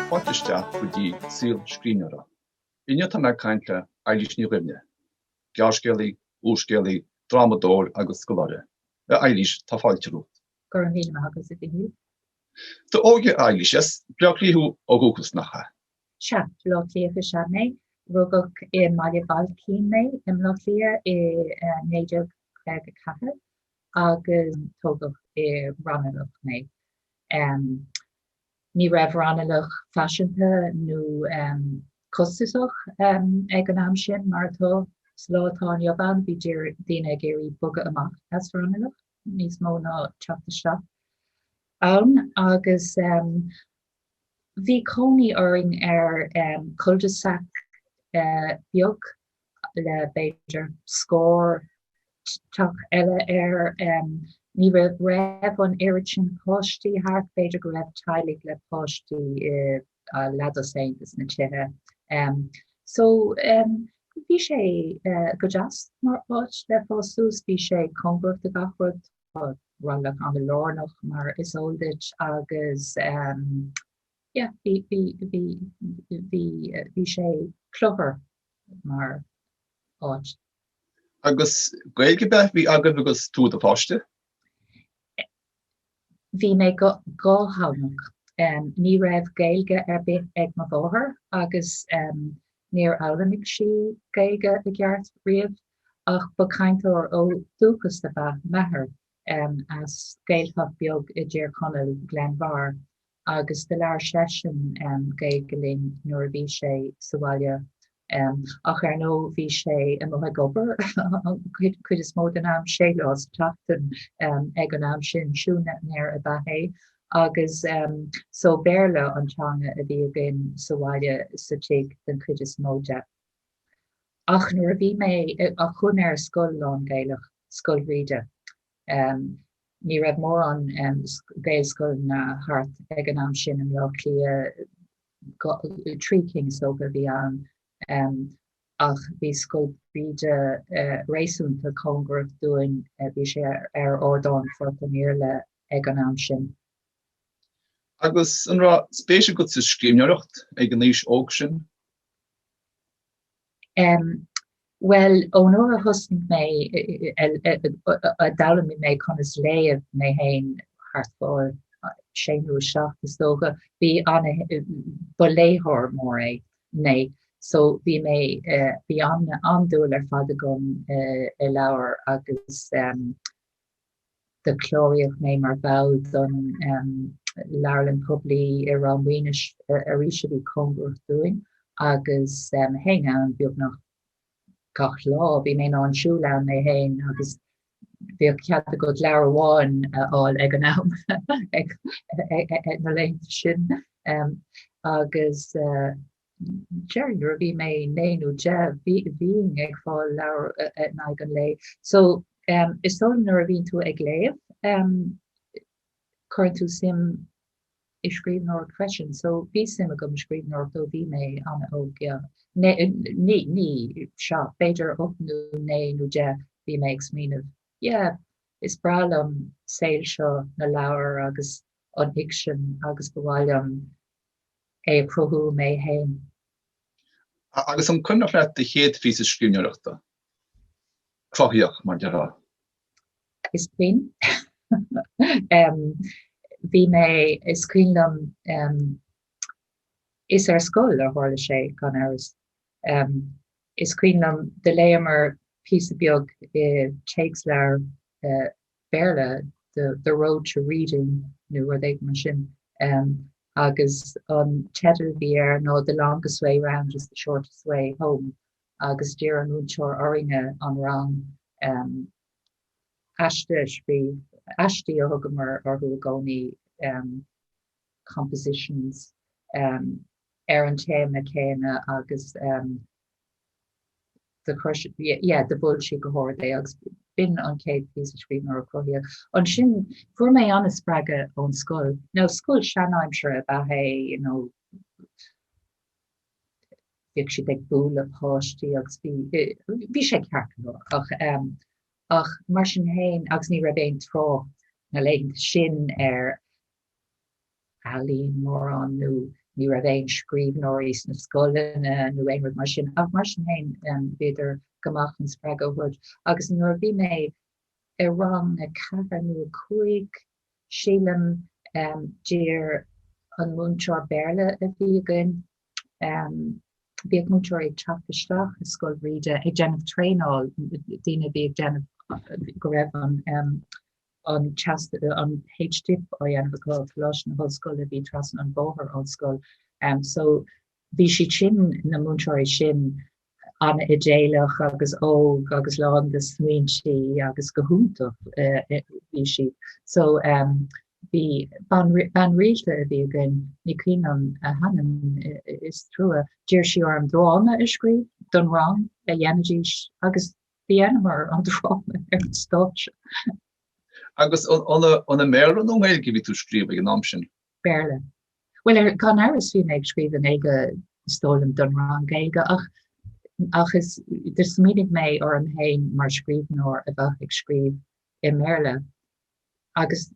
Fáilte isteach go dtí Saol Scríbhneoireachta. Inniu tá mé ag caint le Éilís Ní Dhuibhne. Gearrscéalaí, úrscéalaí, drámadóir agus scoláire. A Éilís, tá fáilte romhat. Go raibh míle maith agat, a Mhichíl. D'óige, a Éilís. As Bleá Cliath thú ó dhúchas, nach ea? Sea, Bleá Cliathach is ea mé. Rugadh i mBaile Bhailcín mé i mBleá Cliath i 1954. agus tógadh i Raghnallach mé. Ní raibh Raghnallach faiseanta nó costasach ag an am sin mar atá sa lá atá inniu ann, bhí daoine ag iarraidh bogadh amach as Raghnallach níos mó ná teacht isteach ann agus bhí cónaí orainn ar cul-de-sac beag le b'fhéidir scór teach eile air. Ní raibh an oiread sin páistí thart, b'fhéidir go raibh teaghlaigh le páistí i leathdhosaen des na tithe. So bhí sé go deas mar áit le fás suas, bhí sé cóngarach do gach rud, tá Raghnallach ana lárnach mar is eol duit agus yeah bhí sé cluthar mar áit. Agus Gaeilge ar bith a bhí agaibh agus tú i do pháiste? Bhí mé dhátheangach. Ní raibh Gaeilge ar bith ag mo mháthair agus níor fhoghlaimigh sí Gaeilge i gceart riamh ach ba cainteoir ó dhúchas ab ea m'athair as Gaeltacht beag i dTír Chonaill, Gleann Bhairr, Agus do labhair seisean Gaeilge linn nuair a bhí sé sa bhaile. Ach ar ndóigh bhí sé amuigh ag obair an chuid is mó den am, sé lá sa tseachtain ag an am sin, siúinéir ab ea é, agus so Béarla an teanga a bhí againn sa bhaile, sa tigh den chuid is mó de. Ach nuair a bhí mé eh, chuaigh mé ar scoil lán-Gaelach, Scoil Bhríde, Ní raibh mórán Gaelscoileanna thart ag an am sin i mBleá Cliath, trí cinn is dócha a bhí ann, ach bhí Scoil Bhríde réasúnta cóngarach dúinn, bhí sé ar Ardán Phort an Iarla ag an am sin. Agus an raibh spéis agat sa scríbhneoireacht ag an aois óg sin? Um, bhuel, ón uair a thosnaigh mé, a d'fhoghlaimigh mé conas léamh mé féin thart fá sé nó a seacht is dócha, bhí an, ba léitheoir mór é mé, so bhí mé, eh, bhí an-dúil ar fad agam i leabhair agus, um, do cláraíodh mé mar bhall den Leabharlann Poiblí i Ráth Maonais arís a bhí cóngarach dúinn agus théinn ann beagnach gach lá. Bhí mé in ann siúl ann mé féin agus bhíodh cead agat leabhar amháin a fháil ag an am na laethanta sin agus Deirfinn nuair a bhí mé naoi nó deich bhínn ag fáil leabhar in aghaidh an lae. So is dóigh nuair a bhíonn tú ag léamh cuireann tú suim i scríbhneoireacht freisin. So bhí suim agam i scríbhneoireacht ó bhí mé an-óg, yeah. Ní, sea, b'fhéidir ocht nó naoi nó deich bhí mé ag smaoineamh, yeah, is breá liom saol seo na leabhar agus an fhicsean agus ba mhaith liom é a chruthú mé féin. Agus an cuimhneach leat do chéad phíosa scríbhneoireachta cruthaitheach, mar a déarfá. Is cuimhin. Bhí mé, is cuimhin liom, is ar scoil a tharla sé, gan amhras. Is cuimhin liom, do léamar píosa beag i téacsleabhar Béarla, the, the road to reading, nó rud éigin mar sin. Um, agus an teideal a bhí air ná The Longest Way Round is the Shortest Way Home agus d'iarr an múinteoir orainne, an rang um, aiste a scríobh, aistí a thugamar orthu i gcónaí, um, compositions, um, ar an téama céanna agus um, do, yeah, do mhol sí go hard é agus b'in an chéad phíosa scríbhneoireacht cruthaitheach. Ansin fuair mé an-spreagadh ón scoil. Now, scoil seanaimseartha ab ea é, you know, bhíodh siad ag bualadh páistí agus bhí, bhí sé ceart go leor ach, ehm, ach mar sin fhéin, agus ní raibh aon trácht na laethanta sin ar ealaín mórán nó ní raibh aon scríbhneoirí sna scoileanna nó aon rud mar sin ach mar sin féin bhíodar go maith chun spreagadh a thabhairt agus nuair a bhí mé i rang a ceathair nó a cúig sílim d'iarr an múinteoir Béarla a bhí againn bhíodh múinteoirí ag teacht isteach i Scoil Bhríde ag déanamh traenáil daoine a bhí ag déanamh go raibh an an t-, an H-Dip á dhéanamh acu i gColáiste na hOllscoile a bhí trasna an bhóthair ón scoil. So bhí siad sin, na múinteoirí sin, an-idéalach agus óg agus lán de smaointe agus go hiontach bhí siad. So bhí bean rialta a bhí againn, ní cuimhin liom a hainm, is trua, d'iarr sí orm dráma a scríobh don rang a dhéanfaidís agus Dhéanamar an dráma ar an stáitse. Agus an i mBéarla nó i nGaeilge a bhí tú ag scríobh ag an am sin? Béarla. Bhuel, gan amhras bhí mé ag scríobh i nGaeilge, is dóigh liom, don rang Gaeilge ach is do smaoinigh mé orm féin mar scríbhneoir a bheadh ag scríobh i mBéarla agus.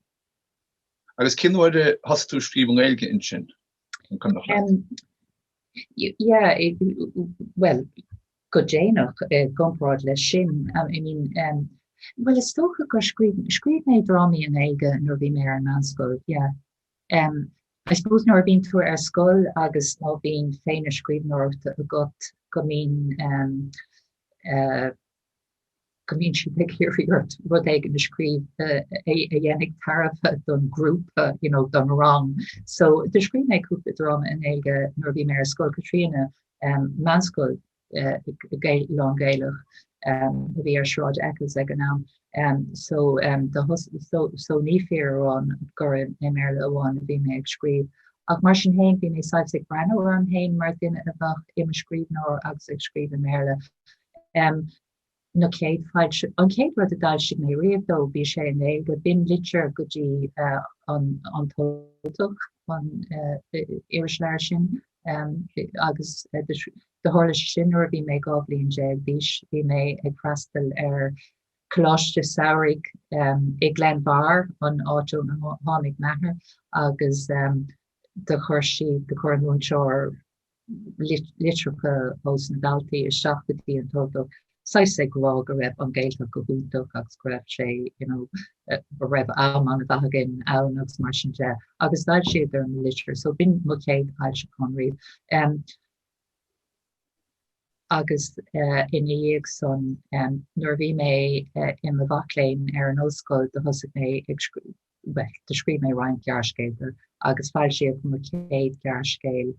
Agus cén uair a thosaigh tú ag scríobh i nGaeilge ansin? An Coimeadach Leat? Bhuel, go déanach i gcomparáid leis sin, I mean, bhuel, is dócha gur scríobh, scríobh mé drámaí i nGaeilge nuair a bhí mé ar an meánscoil, yeah. Em, I suppose nuair a bhíonn tú ar scoil agus má bhíonn féith na scríbhneoireachta agat go mbíonn, em, eh, go mbíonn siad ag iarraidh ort rud éigin a scríobh a dhéanfaidh tairbhe don ghrúpa, you know, don rang. So do scríobh mé cúpla dráma i nGaeilge nuair a bhí mé ar Scoil Chaitríona, um, meánscoil, uh, Gael, lán-Ghaelach, um, a bhí ar Sráid Eccles ag an am. Um, so, um, do thus, so, so ní fíor amháin gur i, i mBéarla amháin a bhí mé ag scríobh. Ach mar sin fhéin, bhí mé saghas ag breathnú orm fhéin mar dhuine a bheadh i mo scríbhneoir agus ag scríobh i mBéarla. nó chéad foilsiú. An chéad rud a d'fhoilsigh mé riamh, though, bhí sé i nGaeilge, b'in litir go dtí an tUltach, an iris leabhar sin, agus do tharla sé sin nuair a bhí mé dhá bhliain déag d'aois, bhí mé ag freastal ar choláiste samhraidh i nGleann Bhairr, an áit ónar tháinig m'athair, agus do chuir sí, do chuir an múinteoir litreacha os na daltaí isteach go dtí an tUltach, saghas ag rá go raibh an Ghaeltacht go hiontach agus go raibh sé, you know, go raibh am ana mhaith againn ann agus mar sin de, agus d'fhoilsíodar an litir. So b'in mo chéad fhoilseachán riamh. Um, agus uh, ina dhiaidh san, um, nuair a bhí mé uh, i mo mhac léinn ar an ollscoil, do thosaigh mé ag, Bhuel, do scríobh mé roinnt gearrscéalta agus foilsíodh mo chéad ghearrscéal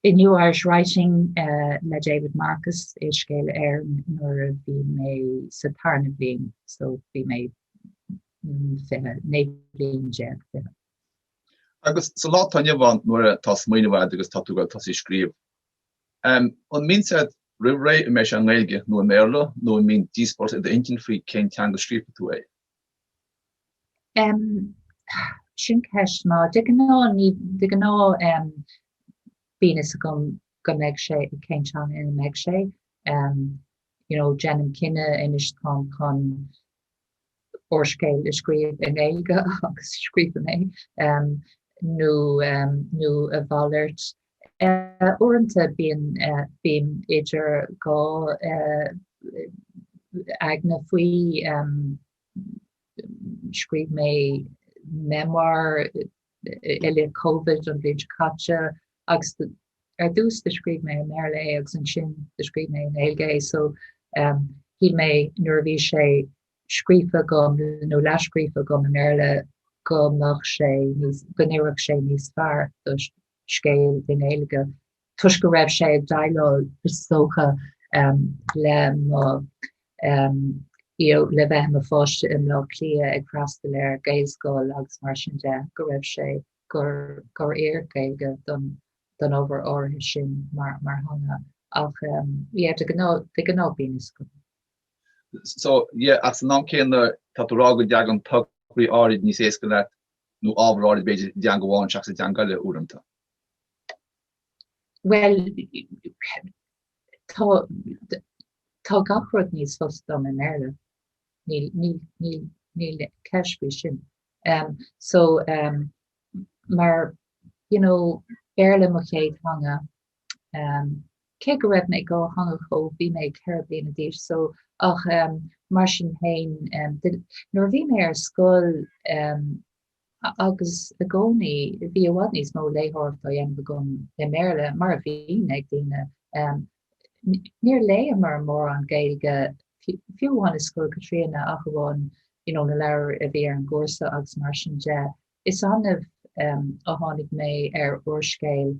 i New Irish Writing le David Marcus i Scéala Éireann nuair a bhí mé sa tarna bhliain, so bhí mé 20, 19 bliain, 20. Agus sa lá atá inniu ann nuair a tá smaoineamh a'd agus tá tú ag dul tosaí ag scríobh, an mbíonn sé a'd roimhré an mbeidh sé i nGaeilge nó i mBéarla nó an mbíonn díospóireacht i d'intinn faoi cén teanga a scríobhfaidh tú é? Sin ceist mhaith. De ghnáth ní, de ghnáth bíonn fhios agam go mbeidh sé i cén teanga ina mbeidh sé. You know, déanaim cinneadh anois táim chun úrscéal a scríobh i nGaeilge agus scríobhaim é nó nó a mhalairt Uaireanta bíonn bím idir dhá aigne faoi, scríobh mé memoir i leith Covid an bhliain seo caite agus ar dtús do scríobh mé i mBéarla é agus ansin do scríobh mé i nGaeilge é so shíl mé nuair a bhí sé scríofa agam nó leathscríofa agam i mBéarla go mbeadh sé níos, go n-oirfeadh sé níos fearr do scéal i nGaeilge toisc go raibh sé ag déileáil, is dócha, le mo le bheith i mo pháiste i mBleá Cliath ag freastal ar Gaelscoil agus mar sin de, go raibh sé gur gur oir Gaeilge don don obair áirithe sin mar mar theanga ach yeah de ghnáth de ghnáth bíonn a fhios agam. So yeah as an am céanna tá tú rá go dtagann tograí áirid níos éasca leat nó ábhar áirid b'fhéidir i dteanga amháin seachas i dteanga eile uaireanta. Bhuel, tá, tá gach rud níos fusa dom i mBéarla. Níl, níl, níl, níl ceist faoi sin. Um, so, um, mar, you know, Béarla mo chéad theanga, Cé go raibh mé dátheangach ó bhí mé ceithre bliana d'aois so ach mar sin féin nuair a bhí mé ar scoil agus i gcónaí bhí i bhfad níos mó léitheoireacht á dhéanamh agam i mBéarla mar a bhíonn ag daoine. Níor léigheamar mórán Gaeilge fiú amháin i Scoil Chaitríona ach amháin you know na leabhair a bhí ar an gcúrsa agus mar sin de. Is annamh a tháinig mé ar úrscéal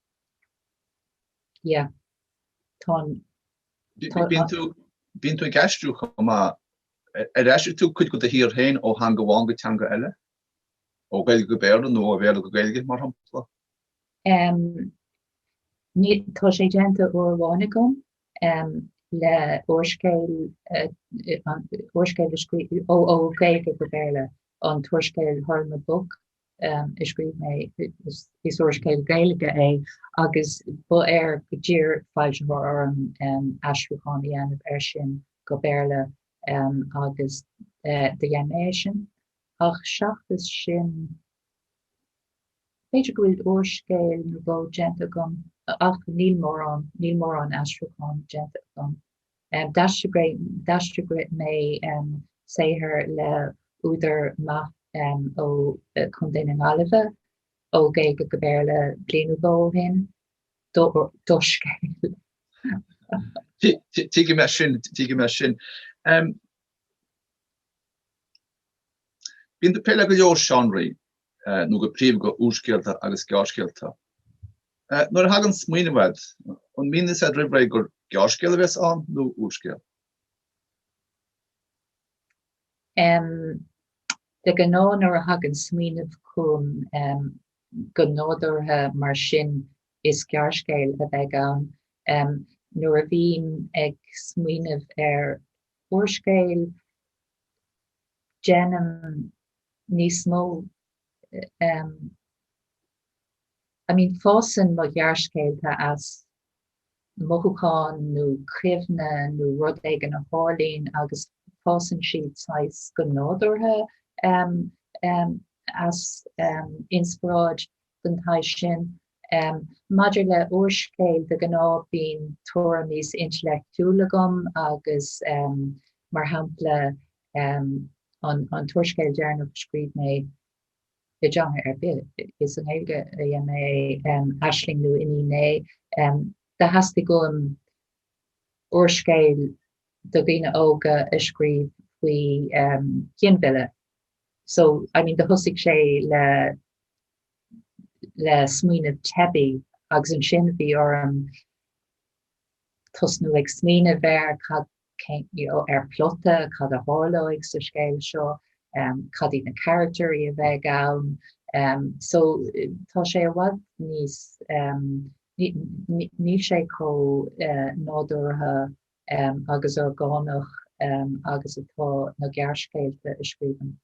Yeah. Tá an. Bíonn tú, bíonn tú ag aistriú chomh maith, ar aistrigh tú cuid de do shaothar féin ó theanga amháin go teanga eile? Ó Ghaeilge go Béarla nó ó Bhéarla go Gaeilge, mar shampla? Um, ní, tá sé déanta uair amháin agam um, le úrscéal, uh, úrscéal a scríobh ó, ó Gaeilge go Béarla, an t-úrscéal Hurlamaboc a scríobh mé, is úrscéal Gaeilge é agus ba ar go d'iarr foilsitheoir orm aistriúchán a dhéanamh air sin go Béarla agus do dhein mé é sin. Ach seachas sin, b'fhéidir go bhfuil úrscéal nó dhó déanta agam ach níl mórán, níl mórán aistriúchán déanta agam. D'aistrigh mé saothar le údar maith ó Chontae na Gaillimhe ó Ghaeilge go Béarla bliain nó dhó ó shin. Dea-scéal. Tuigim é sin, tuigim é sin. Bíonn tú ag plé le go leor seánraí. nó go príomha go úrscéalta agus gearrscéalta. Nuair a thagann smaoineamh agat, an mbíonn a fhios agat roimh ré gur gearrscéal a bheas ann nó úrscéal? Um, de ghnáth nuair a thagann smaoineamh chugam um, go nádúrtha mar sin is gearrscéal a bheidh ann. Um, nuair a bhím ag smaoineamh ar úrscéal déanaim níos mó I mean fásann mo ghearrscéalta as mothúchán nó cuimhne nó rud éigin a tharlaíonn agus fásann siad saghas go nádúrtha as inspioráid den tsaghas sin. Maidir le úrscéal, de ghnáth bíonn tuairim níos intleachtúla agam agus mar shampla an t-úrscéal deireanach a scríobh mé i dteanga ar bith, is i nGaeilge a dhein mé é, Aisling nó Iníon A, do theastaigh uaim úrscéal do dhaoine óga a scríobh faoi ghinmhilleadh. So, I mean, do thosaigh sé le le smaoineamh teibí agus ansin bhí orm tosnú ag smaoineamh ar cad ar plota, cad a tharlóidh sa scéal seo, um, cad iad na carachtair a bheidh ann. Um, so, tá sé i bhfad níos um, níl sé chomh uh, nádúrtha agus orgánach agus atá na gearrscéalta a scríobhaim.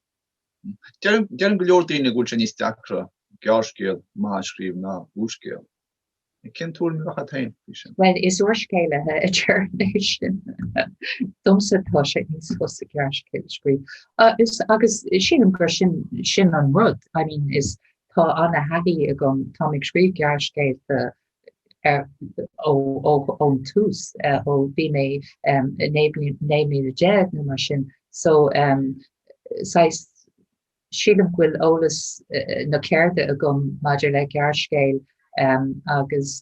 Deireann go leor daoine go bhfuil sé níos deacra gearrscéal maith a scríobh ná úrscéal. Cén tuairim a bheadh agat féin faoi sin? Bhuel, is úrscéalaithe a deireann é sin. Domsa tá sé níos fusa gearrscéal a scríobh. Agus sílim gur sin an rud. I mean, tá an-thaithí agam, táim ag scríobh gearrscéalta ón tús ó bhí mé 9 mbliana déag nó mar sin so saghas sílim go bhfuil eolas na ceirde agam maidir le gearrscéal agus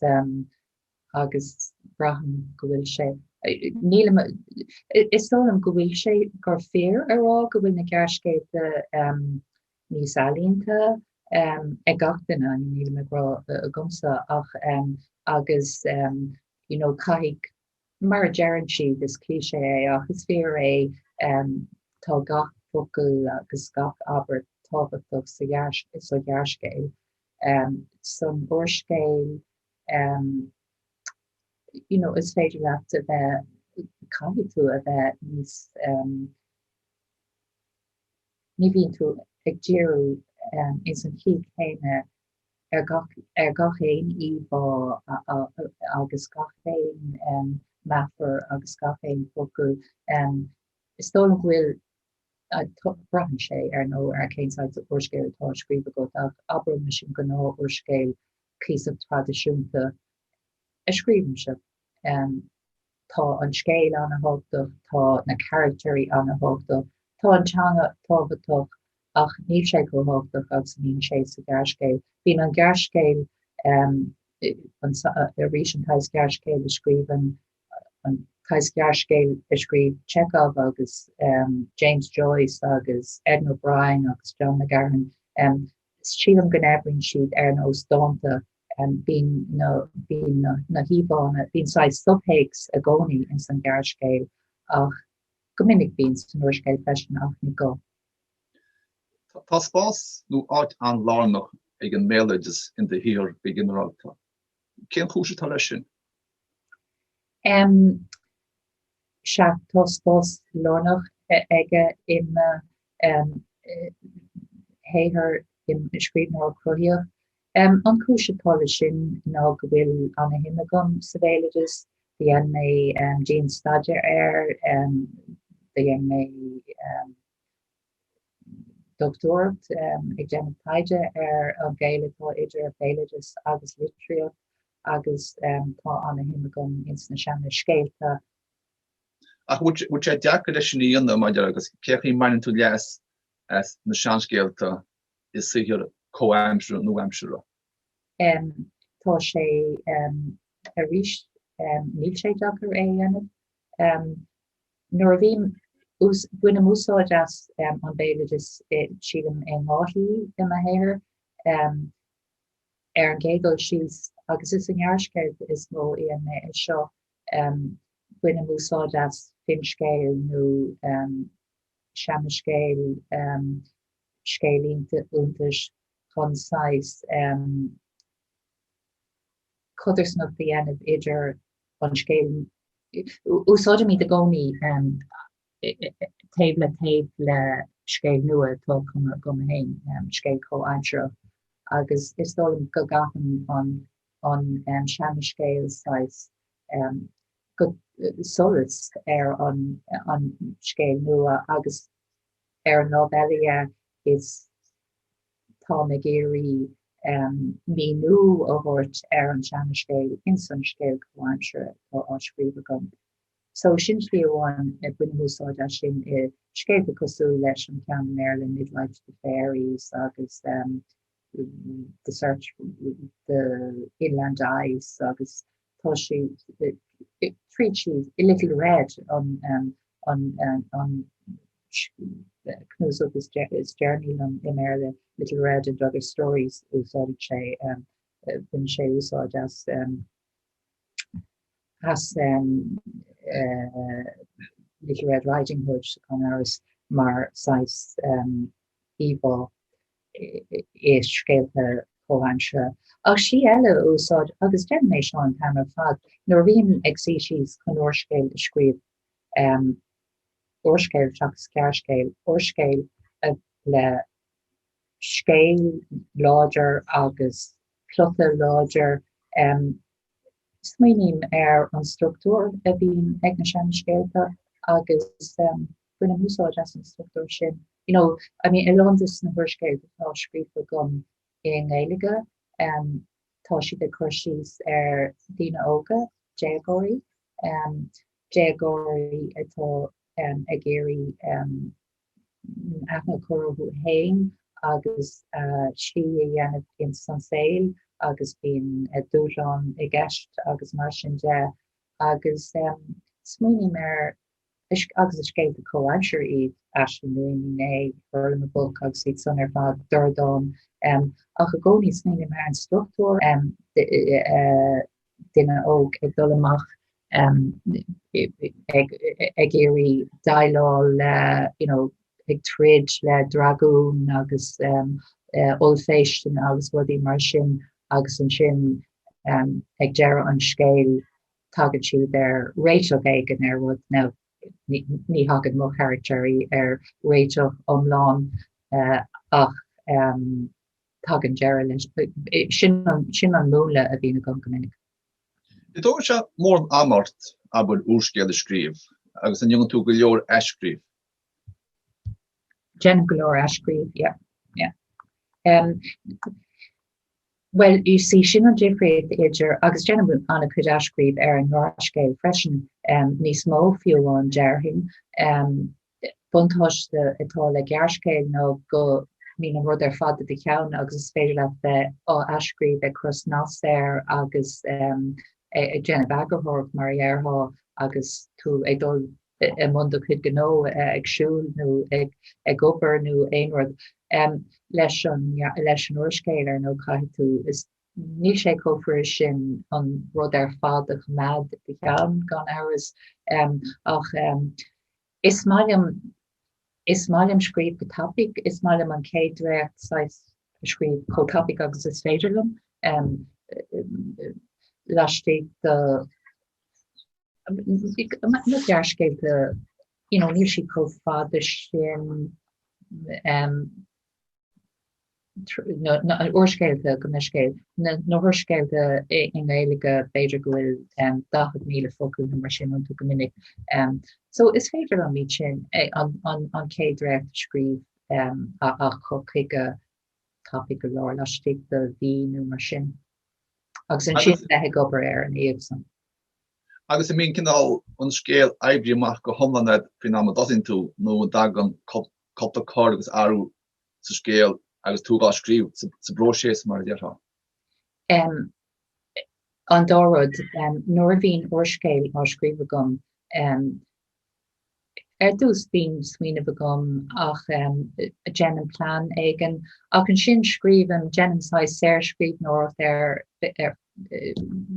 agus braithim go bhfuil sé nílim is dóigh liom go bhfuil sé gur fíor a rá go bhfuil na gearrscéalta níos ealaíonta ag gach duine, nílim ag rá agamsa ach agus you know caithfidh, mar a deireann siad, is cliché é ach is fíor é, tá gach focal agus gach abairt tábhachtach sa ghearrscéal, san úrscéal, you know is féidir leat a bheith, caithfidh tú a bheith níos. ní bhíonn tú ag díriú ins an chaoi chéanna ar gach aon íomhá agus gach aon meafar agus gach aon focal. Is dóigh liom go bhfuil, braitheann sé, ar ndóigh, ar cén saghas úrscéil atá á scríobh agat, ach abraimis an gnáthúrscéal cuíosach traidisiúnta, a scríobhaimse. Tá an scéal ana-thábhachtach, tá na carachtairí ana-thábhachtach, tá an teanga tábhachtach ach níl sé chomh tábhachtach agus a bhíonn sé sa ghearrscéal. Bíonn an gearrscéal, arís an saghas gearrscéil a scríobhann, an saghas gearrscéil a scríobh Chekhov agus James Joyce agus Edna O'Brien agus John McGahern, sílim go n-oibríonn siad ar nós dánta bíonn na híomhánna, bíonn saghas subthéacs i gcónaí ins an ghearrscéal ach go minic bíonn sé san úrscéal freisin ach ní go. Tá spás nó áit an-lárnach ag an mbéaloideas in do shaothar go ginearálta. Cén chúis atá leis sin? Sea, tá spás lárnach aige i mo shaothar mar scríbhneoir cruthaitheach. An chúis atá leis sin ná go bhfuil ana-shuim agam sa bhéaloideas. Do dhein mé dianstaidéar air. Do dhein mé dochtúireacht ag déanamh taighde ar an gaol atá idir béaloideas agus litríocht. agus tá ana-shuim agam ins na seanascéalta. Ach bhfuil sé deacair leis sin a dhéanamh maidir agus cén chaoi a mbaineann tú leas as na seanscéalta i saothar comhaimseartha nó aimseartha? Tá sé arís, níl sé deacair é a dhéanamh. Nuair a bhím, bainim úsáid as an béaloideas, sílim in dhá shlí i mo shaothar. ar an gcéad dul síos, agus is i ngearrscéalta is mó a dhéanaim é seo, bainim úsáid as finscéal nó seanascéal, scéal iontais chun saghas codarsnacht a dhéanamh idir an scéal, úsáidimid i gcónaí taobh le taobh le scéal nua atá cumtha agam féin, scéal comhaimseartha, agus is dóigh liom go gcaitheann an seanscéal saghas solais ar an scéal nua agus ar an lámh eile is táim ag iarraidh míniú a thabhairt ar an seanscéal ins an scéal comhaimseartha atá á scríobh agam. So sin slí amháin bainim úsáid as sin i scéalta cosúil leis an ceann i mBéarla Midwife to the Fairies agus The Search for the Inland Ice agus tá sé tríd síos i Little Red an cnuasach is deireanaí liom i mBéarla Little Red and Other Stories úsáideann sé baineann sé úsáid as as Little Red Riding Hood sa Chonairis mar saghas íomhá i scéalta comhaimseartha. Ach slí eile a úsáid, agus déanaim é seo an t-am ar fad, nuair a bhím ag suí síos chun úrscéal a scríobh, úrscéal seachas gearrscéal, úrscéal le scéal láidir agus plota láidir. Smaoiním ar an struchtúr a bhíonn ag na seanscéalta agus bainim úsáid as an struchtúr sin. You know, I mean, a lán de na húrscéil atá scríofa agam i nGaeilge, tá siad ag cur síos ar daoine óga, déagóirí, déagóirí atá ag iarraidh aithne a chur orthu fhéin agus slí a dhéanamh ins an saol agus bíonn dúshláin i gceist agus mar sin de agus smaoiním ar agus is scéalta comhaimseartha iad Aisling nó Iníon A, Hurlamaboc agus iad san ar fad Dordán ach i gcónaí smaoiním ar an struchtúr duine óg ag dul amach ag iarraidh déileáil le you know ag troid le dragún agus ollphéisteanna agus rudaí mar sin agus ansin ag deireadh an scéil tagann siad ar réiteach éigin ar rud nó ní thagann mo charachtairí ar réiteach iomlán ach Tagann deireadh leis. Sin an múnla a bhíonn agam go minic. An dtógann sé mórán ama ort abair úrscéal a scríobh agus an ndéanann tú go leor athscríobh? Déanaim go leor athscríobh, yeah, yeah. Um, Well, you see, sin an difríocht idir agus déanaim an-chuid athscríobh ar an ngearrscéal freisin um, níos mó fiú amháin déarfainn um, buntáiste atá le gearrscéal ná go mbíonn an rud ar fad i do cheann agus is féidir leat bheith á athscríobh, ag cur snas air agus ag déanamh eagarthóireacht mar a dhéarfá agus tú ag dul i mbun do chuid gnó, ag siúl nó ag obair nó aon rud. Leis an úrscéal, ar ndóigh, caithfidh tú, is Níl sé chomh fuirist sin an rud ar fad a choimeád i do cheann, gan amhras, ach is maith liom is maith liom scríobh go tapaidh, is maith liom an chéad dréacht saghas a scríobh chomh tapaidh agus is féidir liom, laistigh de na gearrscéalta, you know, níl siad chomh fada sin. na húrscéalta go n-scéal, na húrscéalta i nGaeilge b'fhéidir go bhfuil 40,000 focal nó mar sin iontu go minic so is féidir liom iad sin an chéad dréacht a scríobh a chur chuige tapaidh go leor laistigh de mhí nó mar sin agus ansin a bheith ag obair air ina dhiaidh san. Agus an mbíonn cineál an scéal oibrithe amach go hiomlán faoin am a dtosaíonn tú nó an dtagann cúpla cor agus athrú sa scéal agus tú dhá scríobh, sa bpróiseas mar a déarfá. M, An dá rud, nuair a bhíonn úrscéal á scríobh agam, ar dtús bíonn smaoineamh agam ach déanaim plean éigin ach ansin scríobhaim, déanaim saghas saorscríbhneoireacht air,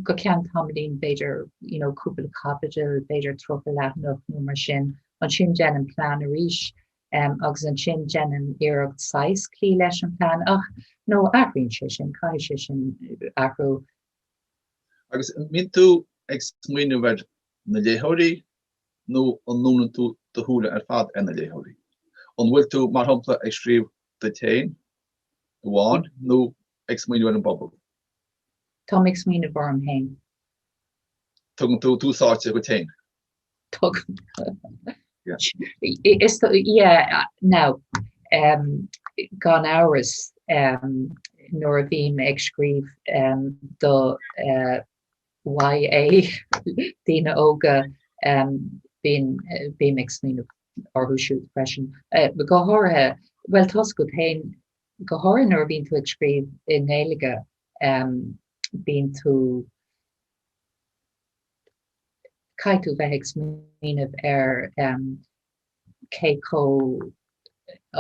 go ceann tamaillín b'fhéidir you know cúpla caibidil, b'fhéidir tríocha leathanach nó mar sin, ansin déanaim plean arís. agus ansin déanaim iarracht saghas cloí leis an plean ach nó athraíonn sé sin, caithfidh sé sin athrú. Agus an mbíonn tú ag smaoineamh ar na léitheoirí nó an ndúnann tú do shúile ar fad ar na léitheoirí? An bhfuil tú, mar shampla, ag scríobh duit féin amháin nó ag smaoineamh ar an bpobal? Táim ag smaoineamh orm féin. Tugann tú tús áite dhuit féin? Gan amhras, nuair a bhím ag scríobh do YA daoine óga, bím ag smaoineamh orthu siúd freisin. Go háirithe, bhuel, tá a fhios agat féin, go háirithe nuair a bhíonn tú ag scríobh i nGaeilge, bíonn tú, caithfidh tú bheith ag smaoineamh ar cé chomh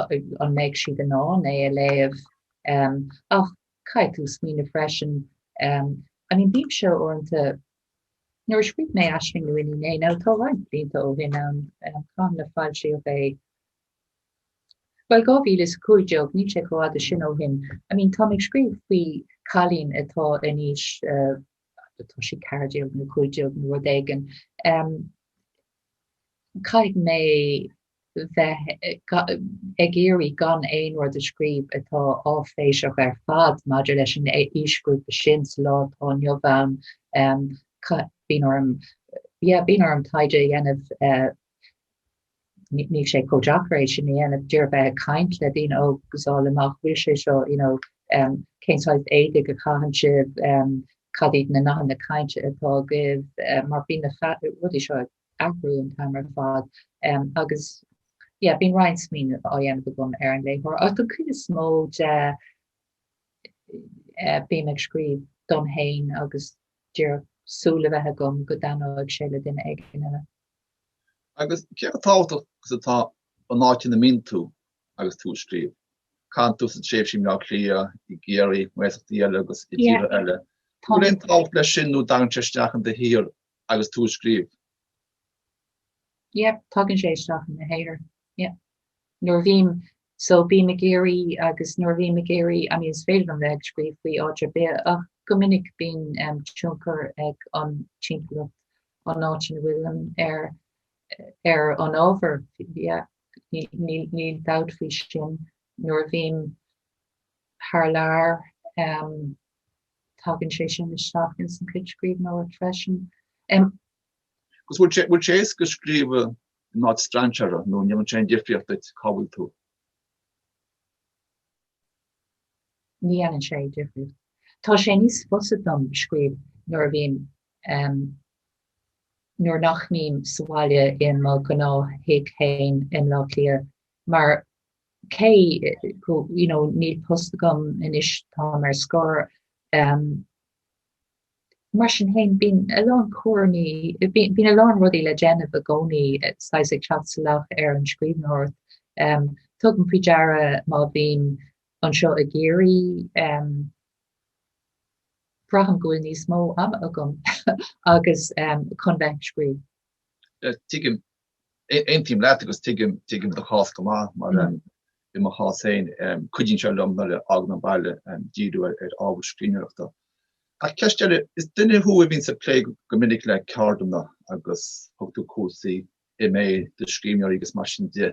an mbeidh siad in ann é a léamh. Ach caithfidh tú smaoineamh freisin, I mean, bímse uaireanta, nuair a scríobh mé Aisling nó Iníon A, now tá roinnt blianta ó shin ann, cathain a foilsíodh é, bhuel, 2015, níl sé chomh fada sin ó shin, I mean, táim ag scríobh faoi cailín atá in aois atá sí ceathair déag nó cúig déag nó rud éigin. Caithfidh mé bheith ag iarraidh gan aon rud a scríobh atá áiféiseach ar fad maidir leis an aoisghrúpa sin sa lá atá inniu ann. Bíonn orm, yeah, bíonn orm taighde a dhéanamh Níl sé chomh deacair é sin a dhéanamh, díreach bheith ag caint le daoine óga, fáil amach, bhfuil sé seo, you know, um, cén saghas éadaigh a chaitheann sibh, um, cad iad na nathanna cainte atá agaibh, um, mar bíonn na rudaí seo ag athrú an t-am ar fad, um, agus, yeah, bíonn roinnt smaoineamh á dhéanamh agam ar an léitheoir, ach an chuid is mó de, eh, bím ag scríobh dom fhéin agus díreach súil a bheith agam go dtaitneoidh sé le duine éigin eile. Agus cé chomh tábhachtach is atá an áit ina mbíonn tú agus tú ag scríobh? Chaith tusa tréimhsí i mBleá Cliath, i gCiarraí, i ngaeltachtaí eile agus i dtíortha eile. An bhfuil aon tábhacht leis sin nó an dtagann sé isteach in do shaothar agus tú ag scríobh? Yep, tagann sé isteach i mo shaothar. Yep. Nuair a bhím So bím i gCiarraí, agus nuair a bhím i gCiarraí, I mean is féidir liom bheith ag scríobh faoi áit ar bith, ach go minic bíonn tionchar ag an timpeallacht, an áit ina bhfuilim, ar, ar an ábhar, yeah, ní, níl dabht faoi sin, nuair a bhím thar lear, em, tagann sé sin isteach ins an chuid scríbhneoireacht freisin. Em. Agus bhfuil sé, bhfuil sé éasca scríobh in áit strainséartha nó an ndéanann sé difríocht duit cá bhfuil tú. Ní dhéanann sé difríocht. Tá sé níos fusa dom scríobh nuair a bhím, nuair nach mbím sa bhaile i mo ghnáth-thigh féin i mBleá Cliath mar cé go, you know, níl post agam anois, táim ar scor, Mar sin féin, bíonn a lán cúraimí, bíonn a lán rudaí le déanamh i gcónaí, saghas ag teacht salach ar an scríbhneoireacht. Tugaim faoi deara má bhím anseo i gCiarraí, braithim go bhfuil níos mó ama agam agus chun bheith ag scríobh. Tuigim. Aontaím leat agus tuigim do chás go maith mar i mo chás féin cuidíonn sé liom nuair a fhágaim an baile díriú ar ábhar scríbhneoireachta. Ach ceist eile, is duine thú a bhíonn ag plé go minic le ceardlanna agus tug tú cúrsaí MA do scríbhneoirí agus mar sin de.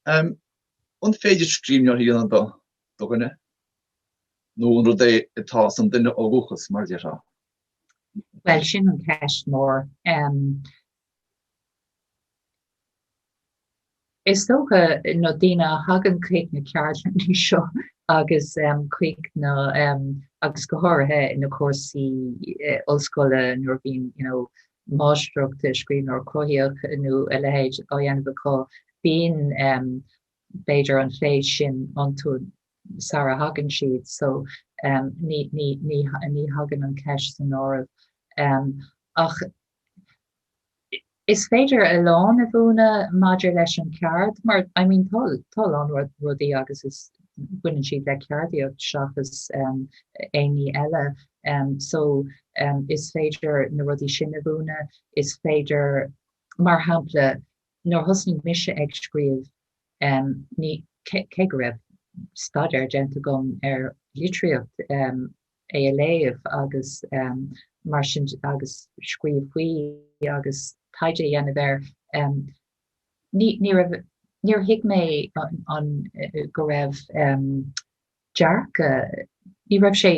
An féidir scríbhneoir a dhéanamh de dhuine? Nó an rud é atá sa duine ó dhúchas, mar a déarfá? Bhuel sin an cheist mór. Is dócha, na daoine a thagann chuig na ceardlanna seo agus chuig na, agus go háirithe na cúrsaí ollscoile nuair a bhíonn you know máistreacht i scríbhneoireacht chruthaitheach nó a leithéid á dhéanamh acu, bíonn b'fhéidir an féith sin iontu sara thagann siad so ní thagann an cheist san áireamh. Ach. Is féidir a lán a mhúineadh maidir leis an cheard mar, I mean, tá a lán rudaí agus is, baineann siad le ceardaíocht seachas aon ní eile, so is féidir na rudaí sin a mhúineadh. Is féidir, mar shampla, nuair a thosnaigh mise ag scríobh, ní, cé go raibh staidéar déanta agam ar litríocht, é a léamh agus mar sin agus scríobh faoi agus taighde a dhéanamh air. Níor thuig mé an go raibh dearcadh, ní raibh sé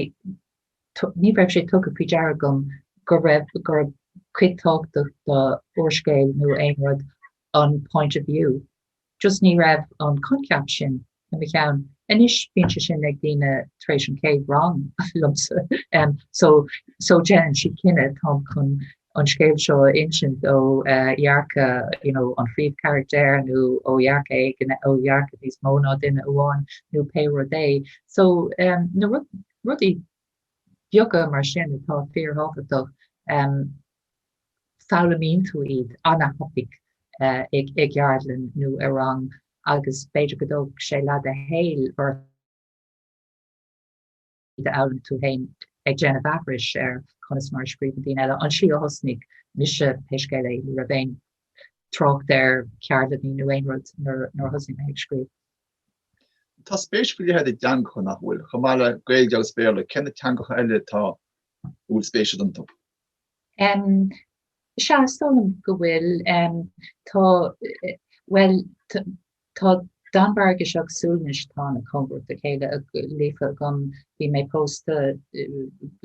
ní raibh sé tugtha faoi deara agam go raibh go raibh cuid tábhachtach d'úrscéal nó aon rud an point of view. Just ní raibh an coincheap sin i mo cheann. Anois bíonn sé sin ag daoine tar éis an chéad rang liomsa so so déanann siad cinneadh táim chun an scéal seo a insint ó dhearcadh you know an phríomhcharactair nó ó dhearcadh éigin ó dhearcadh níos mó ná duine amháin nó pé rud é. So um, na rud, rudaí beaga mar sin atá fíorthábhachtach um, foghlaimíonn tú iad ana-thapaidh i gceardlann nó i rang agus b'fhéidir go dtógfadh sé leath do shaoil ort iad a fhoghlaim tú féin, ag déanamh aithris ar conas mar a scríobhann daoine eile. An slí a thosnaigh mise, pé scéal é, ní raibh aon trácht ar cheardlanna nó aon rud nuair a thosnaigh mé ag scríobh. Tá spéis faoi leith agat i dteangacha, nach bhfuil? Chomh maith le Gaeilge agus Béarla, cé na teangacha eile atá a bhfuil spéis agat iontu? Sea, is dóigh liom go bhfuil. Tá, bhuel, tá Danmhairgis agus Sualainnis, atá ana-chóngarach dá chéile, líofa agam, bhí mé pósta,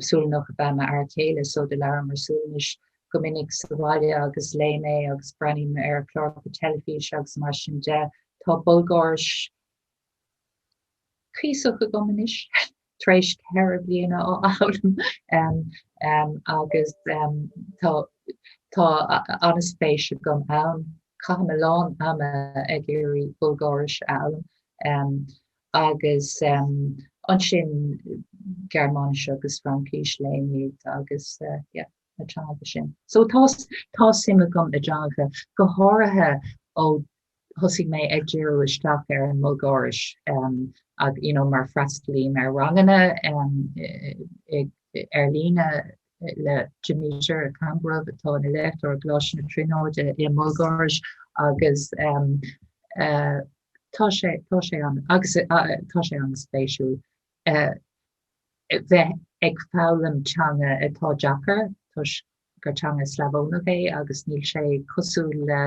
Sualannach ab ea m'fhear céile so do labhramar Sualainnis go minic sa bhaile agus léim é agus breathnaím ar chláracha teilifíse agus mar sin de. Tá Bulgáiris cuíosach agam anois. Tréis ceithre bliana á fhoghlaim um, um, agus um, tá, tá ana-spéis agam ann. Caithim a lán ama ag iarraidh Bulgáiris a fhoghlaim um, agus um, ansin Gearmáinis agus Fraincis léim iad agus uh, yeah. na teanga sin. So tá tá suim agam i dteangacha, go háirithe ó thosaigh mé ag díriú isteach ar an mBulgáiris um, ag, you know, mar freastalaím ar ranganna um, ar líne le Dimitar Kambourov atá ina léachtóir i gColáiste na Tríonóide i mBulgáiris agus um, uh, tá sé tá sé an agus uh, tá sé an-spéisiúil. bheith ag foghlaim teanga atá deacair toisc gur teanga Slavónach é agus níl sé cosúil le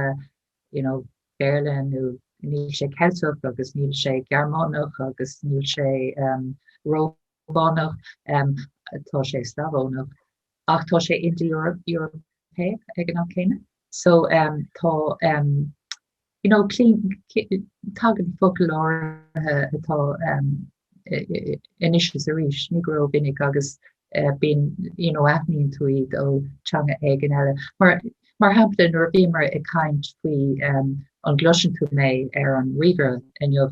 you know, Béarla nó níl sé Ceilteach agus níl sé Gearmánach agus níl sé um, Rómánach, um, tá sé Slavónach, ach tá sé Ind-Eorpach ag an am céanna. So um, tá um, Tagann focail áirithe atá anois is arís, ní go ró-mhinic, agus bíonn, aithníonn tú iad ó theanga éigin eile. Mar shampla, nuair a bhíomar ag caint faoi an gcloiseann tú mé ar an ríomhaire inniu,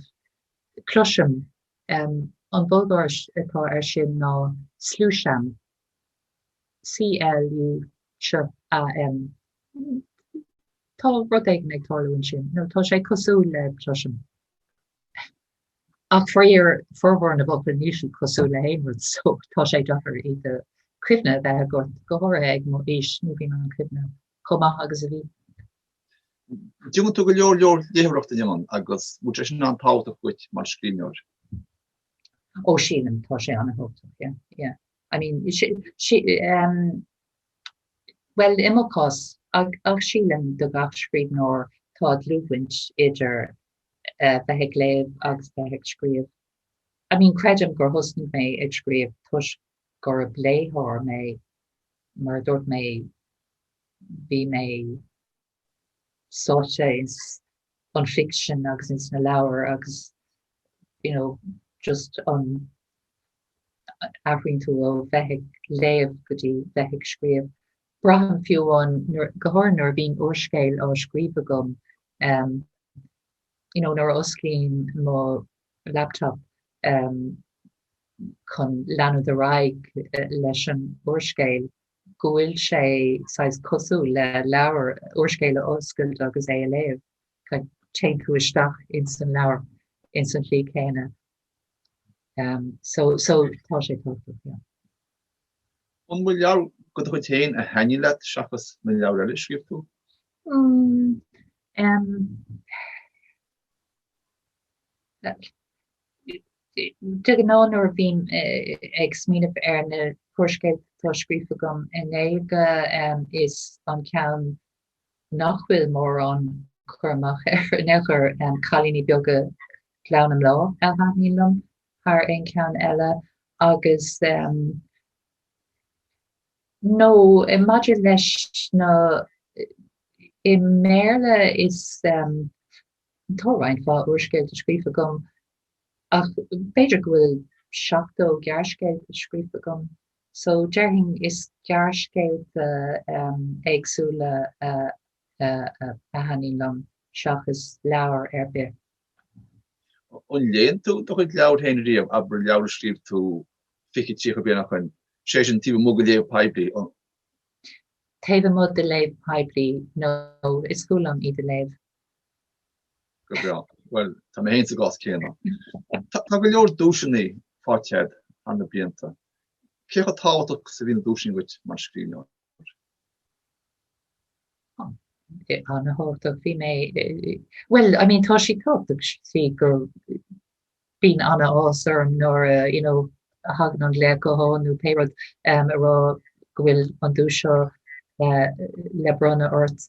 cloisim, an Bhulgáiris atá air sin ná slusham, S L U SH A M, Tá rud éigin ag tarlú ansin, nó tá sé cosúil le cloisim. Ach faraor, formhór na bhfocal níl siad cosúil le haon rud so tá sé deacair iad a cuimhne a bheith agat, go háirithe ag mo aois ní bhíonn an cuimhne chomh maith agus a bhí. Déanann tú go leor leor léitheoireachta ann agus an bhfuil sé sin an-tábhachtach duit mar scríbhneoir. Oh sílim tá sé an-thábhachtach yeah yeah I mean si si um bhuel i mo chás ach ach sílim do gach scríbhneoir tá dlúthbhaint idir eh bheith ag léamh agus bheith ag scríobh. I mean creidim gur thosnaigh mé ag scríobh toisc gurb léitheoir mé mar a dúirt mé bhí mé sáite ins an ficsean agus ins na leabhair agus you know just an athraíonn tú ó bheith ag léamh go dtí bheith ag scríobh. Braithim fiú amháin nuair go háirithe nuair a bhíonn úrscéal á scríobh agam ehm you know nuair a osclaím mo laptop ehm chun leanúint ar aghaidh leis an úrscéal go bhfuil sé saghas cosúil le leabhar, úrscéal a oscailt agus é a léamh. Téann tú isteach ins an leabhar ins an tslí chéanna. So tá sé tábhachtach, yeah. An bhfuil leabhar de do chuid féin a thaitnigh leat seachas na leabhair eile a scríobh tú? De ghnáth nuair a bhím ag smaoineamh ar na húrscéalta atá scríofa agam i nGaeilge is an ceann nach bhfuil mórán cur amach air in aon chor Cailíní Beaga Ghleann na mBláth a thaitníonn liom thar aon cheann eile agus nó maidir leis na, i mBéarla is Tá roinnt mhaith úrscéalta scríofa agam, ach b'fhéidir go bhfuil seachtó gearrscéalta scríofa agam, so déarfainn is gearrscéalta éagsúla a thaitníonn liom seachas leabhar ar bith. An léann tú do chuid leabhar féin riamh, abair leabhar a scríobh tú fiche, tríocha bliain ó shin, sé sin taobh amuigh de léamh poiblí? Taobh amuigh de léamh poiblí, no, is fuath liom iad a léamh. Go breá. Bhuel, tá mé féin sa gcás céanna. Tá go leor duaiseanna faighte agat thar na blianta. Cé chomh tábhachtach is a bhí na duaiseanna dhuit mar scríbhneoir? An-tábhachtach. Bhí mé, bhuel, I mean, tá siad tábhachtach sa tslí go mbíonn an-áthas orm nuair a, you know, a thagann an glaoch gutháin nó pé rud, a rá go bhfuil an duais seo le bronnadh ort.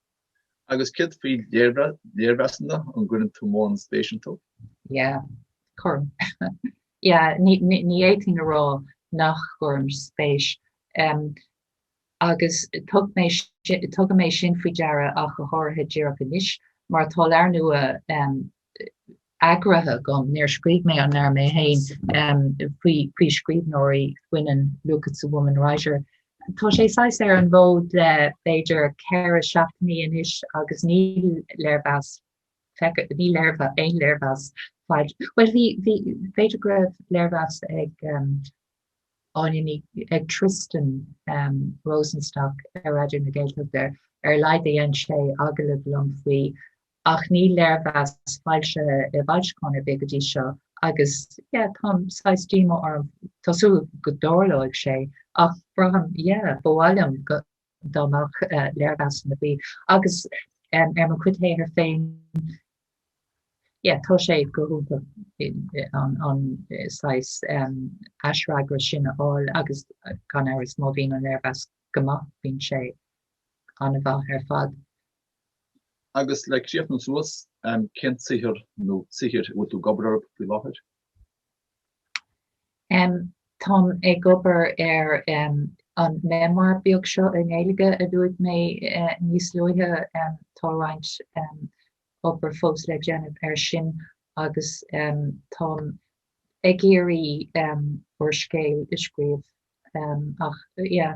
Agus céard faoi léirmheasanna? An gcuireann tú mórán spéis iontu? Yeah, cuirim. Yeah, ní fhéadfainn a rá nach gcuirim spéis. Agus tugaim é sin faoi deara ach go háirithe díreach anois mar tá leabhar nua eagraithe agam, níor scríobh mé an leabhar mé féin, faoi scríbhneoirí baineann, Look! It's a Woman Writer. Tá sé saghas ar an bhfód le b'fhéidir ceithre seachtainí anois agus níl léirmheas feicthe, níl aon léirmheas faighte. Bhuel bhí, b'fhéidir go raibh léirmheas ag Áine Ní, ag Tristan Rosenstock ar Raidió na Gaeltachta ar a laghad dhein sé agallamh liom faoi. ach níl léirmheas foilsithe i bhfoilseachán ar bith go dtí seo agus yeah tá saghas díoma orm, tá súil agam go dtarlóidh sé ach braithim yeah ba mhaith liom go dá mbeadh léirmheasanna ar bith agus em ar mo chuid saothair féin yeah tá sé go hiontach an an saghas em aisfhreagra sin a fháil agus gan amhras má bhíonn an léirmheas go maith bíonn sé an-mhaith ar fad. agus le críochnú suas cén saothar nó saothair a bhfuil tú ag obair orthu faoi láthair? Táim ag obair ar an memoir beag seo i nGaeilge a dúirt mé níos luaithe. Tá roinnt obair fós le déanamh air sin agus táim ag iarraidh úrscéal a scríobh ach yeah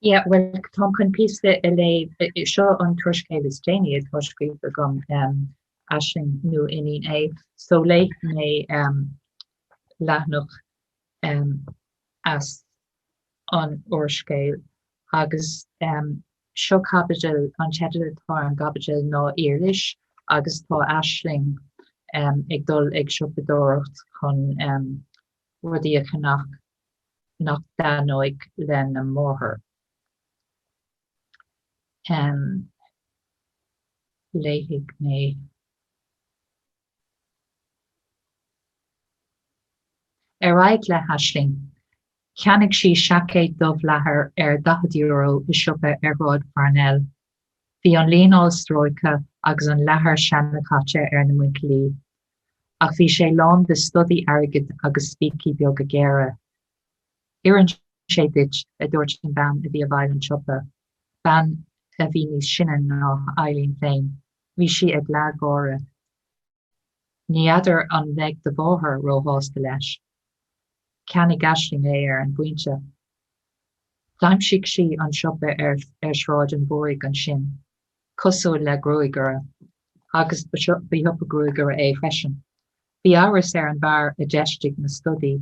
Yeah bhuel táim chun píosa a léamh, seo an t-úrscéal is déanaí atá scríofa agam, Aisling nó Iníon A, so léifidh mé leathanach as an úrscéal agus seo caibidil, an teideal atá ar an gcaibidil ná Iris agus tá Aisling ag dul ag siopadóireacht chun rudaí a cheannach nach dtaitneoidh lena máthair em léifidh mé Ar aghaidh le hAisling. Cheannaigh sí seaicéad dubh leathair ar €40 i siopa ar Shráid Pharnell Bhí an líneáil stróicthe agus an leathar seanchaite ar na muinchillí, ach bhí sé lán de stodaí airgid agus spící beaga géara. Oireann sé duit, a dúirt an bhean a bhí i bhfeighil an tsiopa, bean a bhí níos sine ná Eileen féin. Bhí sí ag leathgháire. Ní fheadar an mbeidh do mháthair róshásta leis. Cheannaigh Aisling é ar an bpointe. D'aimsigh sí an siopa ar Shráid an Mhúraigh ansin, cosúil le gruagaire, agus ba siopa gruagaire é freisin. Bhí amhras ar an bhfear a d'fheistigh na stodaí.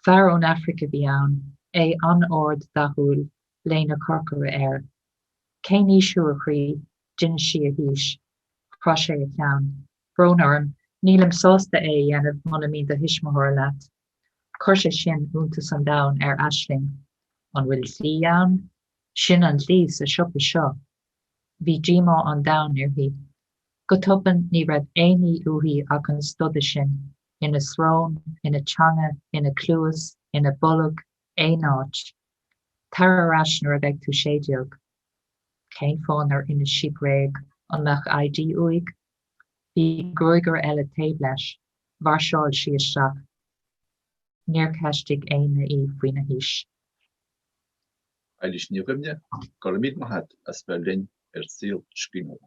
Fear ón Afraic a bhí ann, é an-ard dathúil, léine chorcra air. Cén aois thú, a chroí? D'inis sí a haois. Chroith sé a cheann. Brón orm. Nílim sásta é a dhéanamh muna mbíonn do thuismitheoir leat. Chuir sé sin iontas an domhain ar Aisling. An bhfuil dlí ann? Sin an dlí sa siopa seo. Bhí díomá an domhain uirthi. Go tobann ní raibh aon ní uaithi ach an stoda sin, ina srón, ina teanga, ina cluas, ina bolg, aon áit. Tar ar ais nuair a bheidh tú sé déag. Cén fáth nár inis sí bréag? An mbeadh ID uaidh? Bhí gruagaire eile taobh leis. Mhairseáil sí isteach. Níor cheistigh éinne í faoina haois. Éilís Ní Dhuibhne, Go raibh míle maith agat as bheith linn ar Saol Scríbhneora.